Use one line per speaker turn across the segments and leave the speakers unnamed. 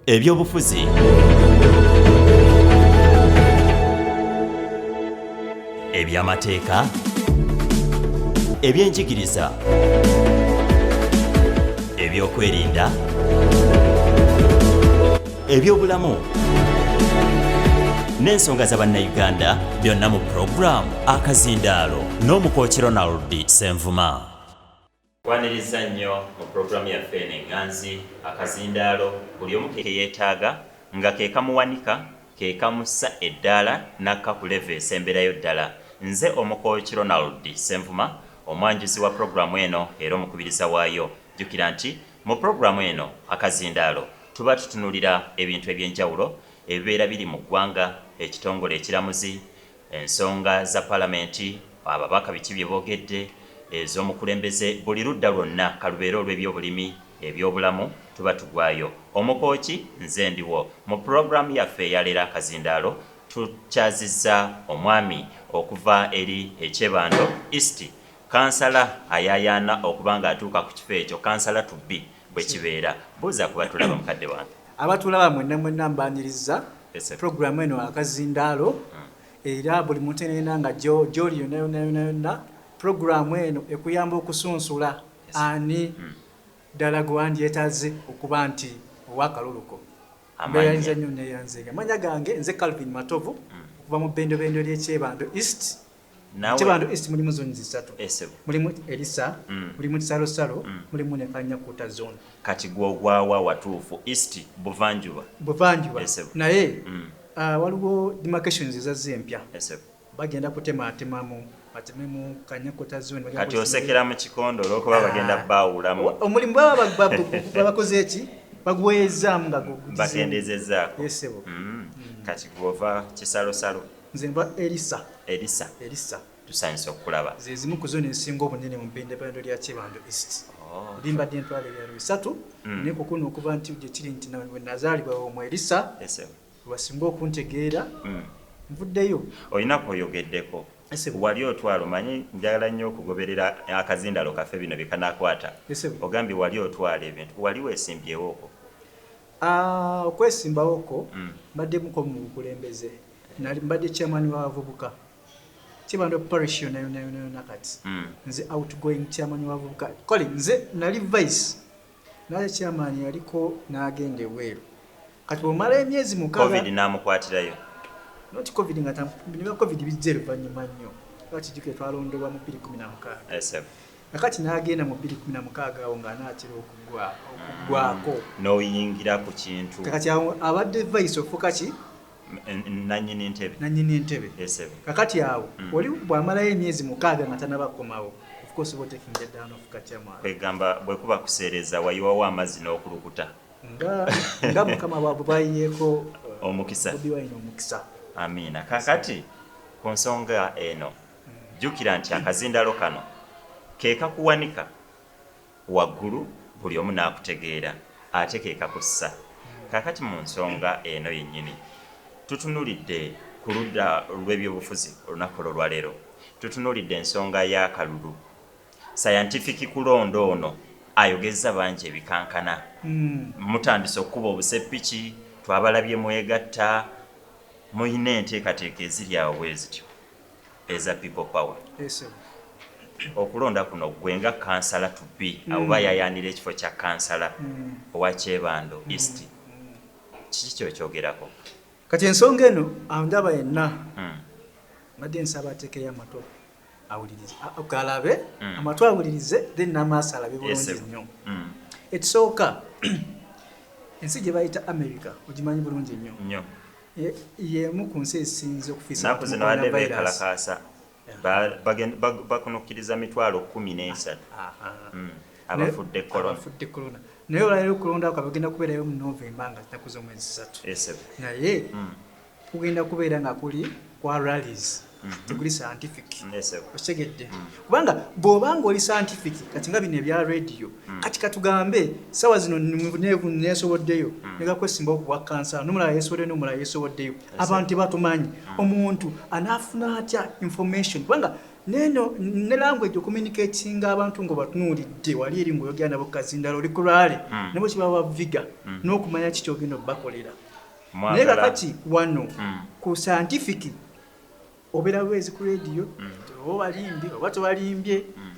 ebyobufuzi ebyamateeka ebyenjigiriza ebyokwerinda ebyobulamu n'ensonga za bannayuganda byonna mu pulogulaamu akazindaalo n'omukoki ronald senvuma Twaniriza nnyo mu pulogulaamu yaffe eno eŋŋanzi, akazindaalo buli omu ke yeetaaga nga ke kamuwanika, ke kamussa eddaala n'akka ku level esemberayo ddala. Nze Omukooki Ronald Ssenvuma, omwanjuzi wa pulogulaamu eno era omukubiriza waayo. Jjukira nti mu pulogulaamu eno Akazindaalo tuba tutunuulira ebintu eby'enjawulo ebibeera biri mu ggwanga, ekitongole ekiramuzi, Ensonga za Palamenti, ababaka biki bye boogedde, ez'omukulembeze, buli ludda lwonna, ka lubeere olw'ebyobulimi, ebyobulamu, tuba tugwayo. Omukooki nze ndiwo. Mu pulogulaamu yaffe eya leero akazindaalo tukyazizza omwami okuva eri e Kyebando East, kkansala ayaayaana okuba ng'atuuka ku kifo ekyo, kkansala to be. Bwe kibeera, buuza ku batulaba mukadde wange. Abatulaba mwenna
mwenna mbaaniriza. Pulogulaamu eno akazindaalo hmm. era buli muntu enenda nga gyoli yonna yonna yonna yonna pulogulaamu eno ekuyamba okusunsula ani hmm. ddala gwe wandyetaze okuba nti owakaluluko mbeyanza nnyo neyanzega amanya gange nze calvin matovu hmm. okuva mu bendobendo lyekyebando east Nawe. Bantu East mulimu zoni zisatu. Ese. Eh, mulimu Elisa, mm. mulimu Salo Salo, mm. mulimu ne Kanya Kuta zone. Kati gwo ogwawa
watuufu East Buvanjuba. Buvanjuba. Ese. Eh,
Naye mm. uh, waliwo demarcations ezazze empya. Ese. Eh, bagenda kutema atemamu batememu Kanya Kuta zone. Kati osekera mu
kikondo olwokuba ah. bagenda baawulamu. Omulimu
baba bakoze eki? Bagwezaamu nga gugudize. Bakendezezaako.
Ese. Mm. Mm. Kati gwova kisalosalo. Nze nva Erisa.
Erisa. Erisa. Tusanyuse
okukulaba. Ze zimu ku zone ezisinga
obunene mu bendebendo lya Kyebando East. Oh. Ndi mbadde ntwala ebyalo bisatu mm. naye kukuna okuva nti gye kiri nti we nazaalibwa omu Erisa lwasinga okuntegeera mm. nvuddeyo. Olina
kwoyogeddeko wali otwala omanyi njagala nnyo okugoberera akazindalo kaffe bino bikanakwata ogambye wali otwala ebintu wali wesimbyewoko ah, okwesimbawo
ko mm. mbaddemu ko mu bukulembeze Nali mbadde chairman wa bavubuka kibando parish yona yona yona yona kati mm. nze outgoing chairman wa bavubuka kale nze nali vice naye chairman yaliko nagenda ebweru kati bwomala emyezi mukaaga namukwatirayo
noti
covid nga niba covid bijja oluvanyuma nnyo bakijukire twalondebwa mu bbiri kumi na mukaaga akati nagenda mu bbiri kumi na mukaaga awo nga anaatera okugwako mm. noyingira
ku kintu kakati awo abadde
vice ofuka ki nanyini
ntebe nanyini ntebe esebe kakati
awo mm. oli bwamalayo emyezi mukaaga nga tanaba komawo of course bo taking the down of kachama kwegamba bwe kuba
kusereza wayiwawo amazi n'okulukuta
nga nga mukama bwa bwayeko uh, omukisa obi
wayina omukisa
amina
kakati ku nsonga eno mm. jukira nti akazindalo kano kekakuwanika waggulu buli omu n'akutegeera ate ke kakussa. Kaakati mu nsonga eno yennyini, tutunulidde ku ludda lw'ebyobufuzi olunaku olwaleero. Tutunulidde ensonga y'akalulu. Sayantifiki kulonda ono ayogezza bangi ebikankana. Mutandise okukuba obuseppiki, twabalabye mwegatta, mulina enteekateeka eziri awo bwe zityo. eza people power okulonda kuno gwe nga kansala to be mm. abo bayayaanira ekifo kya kansala mm. owa kyebando mm. east kiki kyokyogerako kati ensonga
eno andaba yenna mbadde nsaba atekeyo amatu awulirize galabe amatu awulirize then namaaso alabe bulungi nnyo ekisooka ensi gye bayita america ogimanyi bulungi nnyo y'emu ku nsi ezisinze okufiisa Ennaku zino abadde
beekalakaasa bakunukkiriza mitwalo kkumi n'esatu hmm, abafudde corona. Naye olwaleero okulonda kwabwe kugenda kubeerayo mu Novemba nga zinaku z'omwezi satu. Naye hmm. kugenda kubeera nga kuli kwa rallies. mhm. teguli scientific okitegedde mm. kubanga bw'oba nga oli scientific kati nga bino ebya radio mm. kati katugambe sawa zino nesoboddeyo mm. negakwesimba okubwa kansa nomulala yesoboddeyo nomulala yesoboddeyo abantu tebatumanyi omuntu anaafuna atya information kubanga neno
ne language okuminicatinga abantu nga batunuulidde wali eri ngaoyogera nabo kazindala oli kulwale nabo kibawa viga n'okumanya kikyogenda obakolera naye kakati wano ku scientific obera bwezi ku radio mm. oba obalimbye oba tobalimbye mm.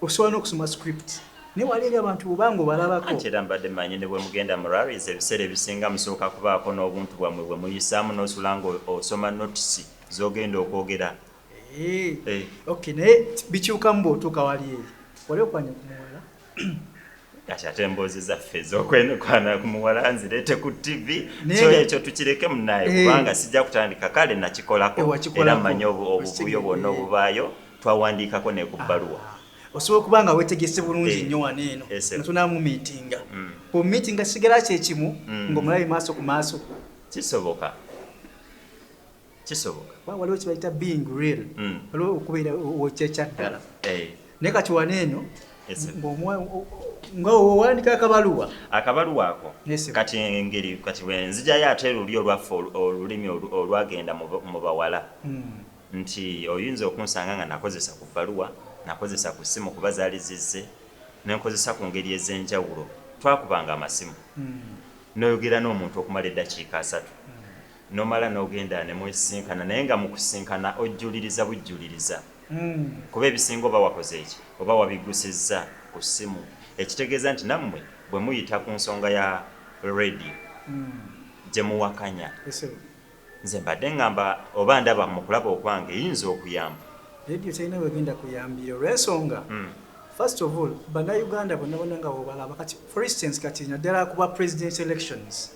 osobola n'okusoma script naye wali eri abantu bubanga obalabako nti era mbadde manyi ne bwe
mugenda mu raris ebiseera ebisinga musooka kubaako n'obuntu bwammwe bwe muyisaamu n'osula nga osoma notisi z'ogenda okwogera eh,
eh. ok naye bikyukamu bw'otuuka wali eri wali okwanya kumuwala
kati ate emboozi zaffe ez'okwenukwana ku muwala nzireete ku ttivi kyo ekyo tukireke munaye eh. kubanga sijja kutandika kale nakikolako eh, era mmanyi obuvuyo bwonna obubaayo twawandiikako ne ku ah. bbaluwa osobola okuba nga
wetegese bulungi eh. nnyo wano eno natunamu miitinga mm. ku miitinga kisigala kyekimu mm. ng'omulabi maaso ku maaso kisoboka kisoboka kuba waliwo kibayita being real mm. waliwo okubeera okyekyaddala eh. naye kati wana eno nga owandika akabaluwa akabaluwa ako kati
engeri kati wenzijayo ate luli olwaffe olulimi olwagenda mu bawala mm. nti oyinza okunsanga nga nakozesa ku bbaluwa nakozesa ku ssimu kuba zaali zizze nenkozesa ku ngeri ez'enjawulo twakubanga amasimu mm. noyogera n'omuntu okumala eddakiika asatu n'omala n'ogenda ne mwesisinkana naye nga mu kusisinkana ojjuliriza bujjuliriza kuba ebisinga oba wakoze ki? Oba wabiggusizza ku ssimu ekitegeeza nti nammwe bwe muyita ku nsonga ya leediyo gye muwakanya. Nze mbadde ngamba oba ndaba mu kulaba okwange eyinza okuyamba. Leediyo terina
w'egenda kuyambira olw'ensonga first of all Bannayuganda bonna bonna nga bw'obalaba kati for instance kati naddala ku bwa presidential elections,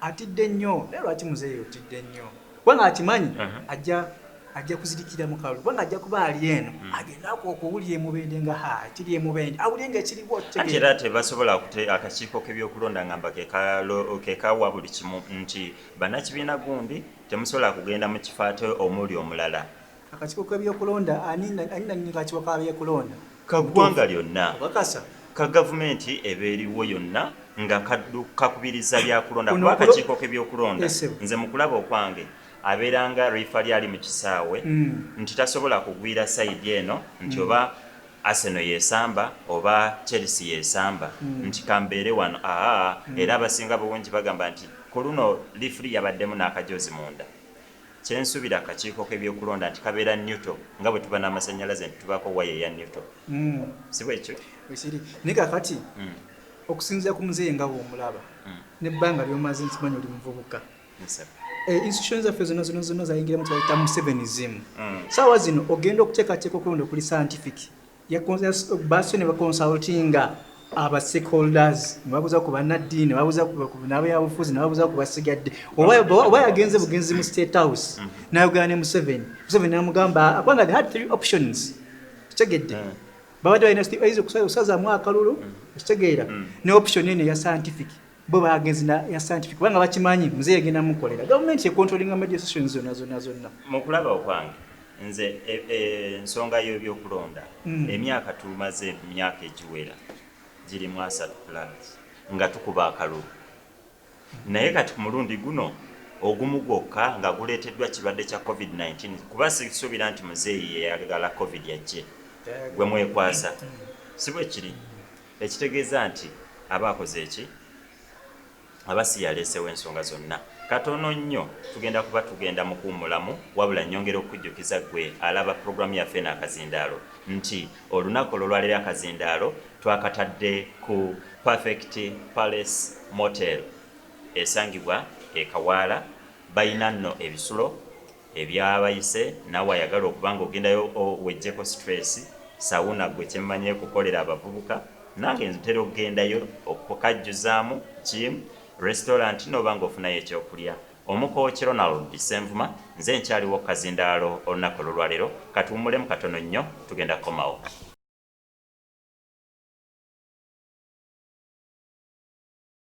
Atidde nnyo naye lwaki muzeeyi otidde nnyo kubanga akimanyi ajja ajja kuzirikira mu kalulu kubanga ajja kuba ali eno hmm. agendaku okuwulira emubende nga ha kiri emubende awulire nga ekiriwo ate era tebasobola
kute akakiiko k'ebyokulonda nga mba kekawa buli kimu nti bannakibiina gundi temusobola kugenda mu kifo ate omuli omulala Akakiiko
k'ebyokulonda ani nannyini kakiiko ka byokulonda? Ka ggwanga
lyonna. Obakasa. Ka gavumenti eba eriwo yonna nga kakubiriza byakulonda kuba akakiiko k'ebyokulonda nze mu kulaba okwange abeera nga riifali ali mu kisaawe hmm. nti tasobola kugwira sayidi eno nti hmm. oba aseno yesamba oba chelsea yesamba hmm. nti kambeere wano aa era abasinga bungi bagamba nti ku luno liifuli yabaddemu n'akajoozi munda Kyensubira akakiiko kebyokulonda nti kabeera neutal nga bwetuba namasanyalaze nti tubaako wire eya neutal sibwekyo? Bwekiri naye
kakati okusinzira ku muzeeyi nga bwomulaba nebbanga lyomaze nkimanyi oli muvubuka institution zaffe zona zona zona zayingiramu kyebayita musevenism saawa zino ogenda okutekateeka okulonda okuli scientific basse ne bakonsultinga aba stakeholders nebabuza ku bannaddiini nebabuza nabyabufuzi nebabuza ku basigadde oba yagenze bugenzi mu state house mm. nayogera ne museveni museveni namugamba kubanga they had three options kitegedde mm. babadde balina okusazamu akalulu mm. okitegeera ne option eno eya scientific bo bagenzi na ya scientific kubanga bakimanyi mzee yagenda mukolera government ye controlling media sessions zonna zonna zonna mu kulaba okwange
nze e, e, ensonga y'ebyokulonda mm. emyaka tumaze emyaka egiwera giri mu asat plans nga tukuba akalulu naye kati ku mulundi guno ogumu gwokka nga guleeteddwa kirwadde kya covid-19 kuba sisuubira nti muzeeyi yeyagala covid yajje gwe mwekwasa mm. si bwe kiri Ekitegeeza nti aba akoze ki? Aba si y'aleesewo ensonga zonna. Katono nnyo tugenda kuba tugenda mu kuwummulamu, wabula nnyongera okukujjukiza ggwe alaba pulogulaamu yaffe eno akazindaalo nti olunaku olw'olwaleero akazindaalo twakatadde ku Perfect Palace Motel esangibwa e Kawaala. Balina nno ebisulo. Ebyabayise nawe ayagala okuba nga ogendayo owejjeko stress, sauna gwe kyemmanyi ekukolera abavubuka nange ntera okugendayo okukajjuzaamu, gym, restaurant noba nga ofunayo ekyokulya Omuko ki Ronald Ssenvuma nze nkyaliwo kukazindaalo olunaku olulwalero katuwumulemu katono nnyo tugenda kukomawo.